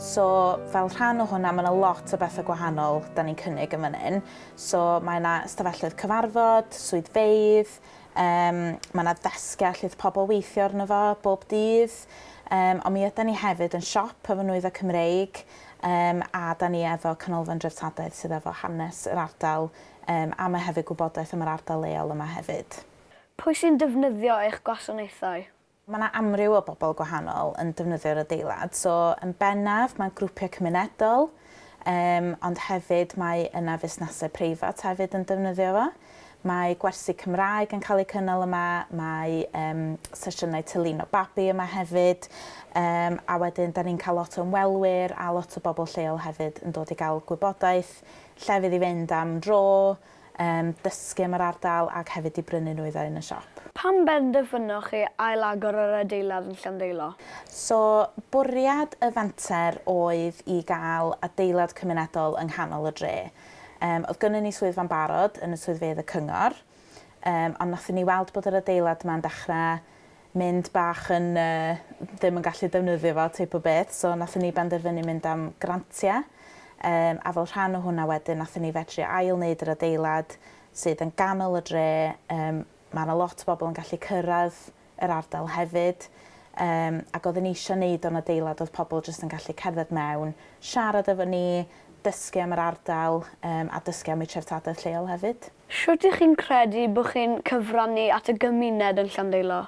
So, fel rhan o hwnna, mae yna lot o bethau gwahanol da ni'n cynnig yn fan hyn. So, mae yna ystafelloedd cyfarfod, swyddfeydd, um, mae yna ddesgiau lle oedd pobl weithio arno fo bob dydd, um, ond mi ydy ni hefyd yn siop efo nwyddau Cymreig, um, a da ni efo canolfan dreftadaeth sydd efo hanes yr ardal, um, a mae hefyd gwybodaeth am yr ardal leol yma hefyd. Pwy sy'n defnyddio eich gwasanaethau? Mae 'na amryw o bobl gwahanol yn defnyddio'r adeilad, so yn bennaf mae grwpiau cymunedol yym ond hefyd mae yna fusnesau preifat hefyd yn defnyddio fo. Mae gwersi Cymraeg yn cael eu cynnal yma, mae yym sesiynau tylino babi yma hefyd yym a wedyn 'dan ni'n cael lot o ymwelwyr a lot o bobl lleol hefyd yn dod i gael gwybodaeth, llefydd i fynd am dro, yym, dysgu am yr ardal ac hefyd i brynu nwy dda yn y siop. Pam benderfynoch chi ail-agor yr adeilad yn Llandeilo? So, bwriad y fenter oedd i gael adeilad cymunedol yng nghanol y dre. Yym, oedd gynnon ni swyddfa'n barod yn y swyddfeydd y cyngor, yym, ond nathon ni weld bod yr adeilad 'ma'n dechre mynd bach yn yy ddim yn gallu defnyddio fo teip o beth so nathon ni benderfynu mynd am grantia yym a fel rhan o hwnna wedyn nathon ni fedru ail neud yr adeilad sydd yn ganol y dre yym ma' 'na lot o bobol yn gallu cyrradd yr ardal hefyd yym ag odden ni isio neud o'n adeilad o'dd pobol jyst yn gallu cerdded mewn siarad efo ni dysgu am yr ardal yym a dysgu am ei treftadaeth lleol hefyd. Shwt y'ch chi'n credu bo chi'n cyfrannu at y gymuned yn Llandeilo?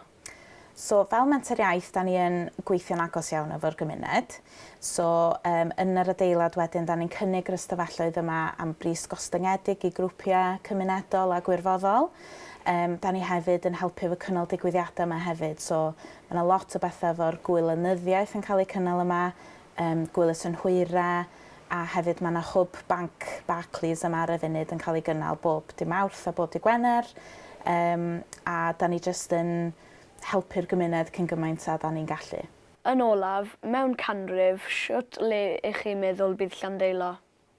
So fel Menter Iaith 'da ni yn gweithio'n agos iawn efo'r gymuned. So yym yn yr adeilad wedyn 'da ni'n cynnig yr ystafelloedd yma am bris gostyngedig i grwpia' cymunedol a gwirfoddol. Yym 'da ni hefyd yn helpu efo cynnal digwyddiada' yma hefyd so ma' 'na lot o betha' efo'r gwylynyddiaeth yn ca'l eu cynnal yma Yym Gwyl y Synhwyre a hefyd ma' 'na hwb banc Barclays yma ar y funud yn ca'l ei gynnal bob dy' Mawrth a bob dy' Gwener yym a 'dan ni jyst yn helpu'r gymuned cyn gymaint a 'dan ni'n gallu. Yn olaf, mewn canrif, shwt le 'ych chi'n meddwl bydd Llandeilo?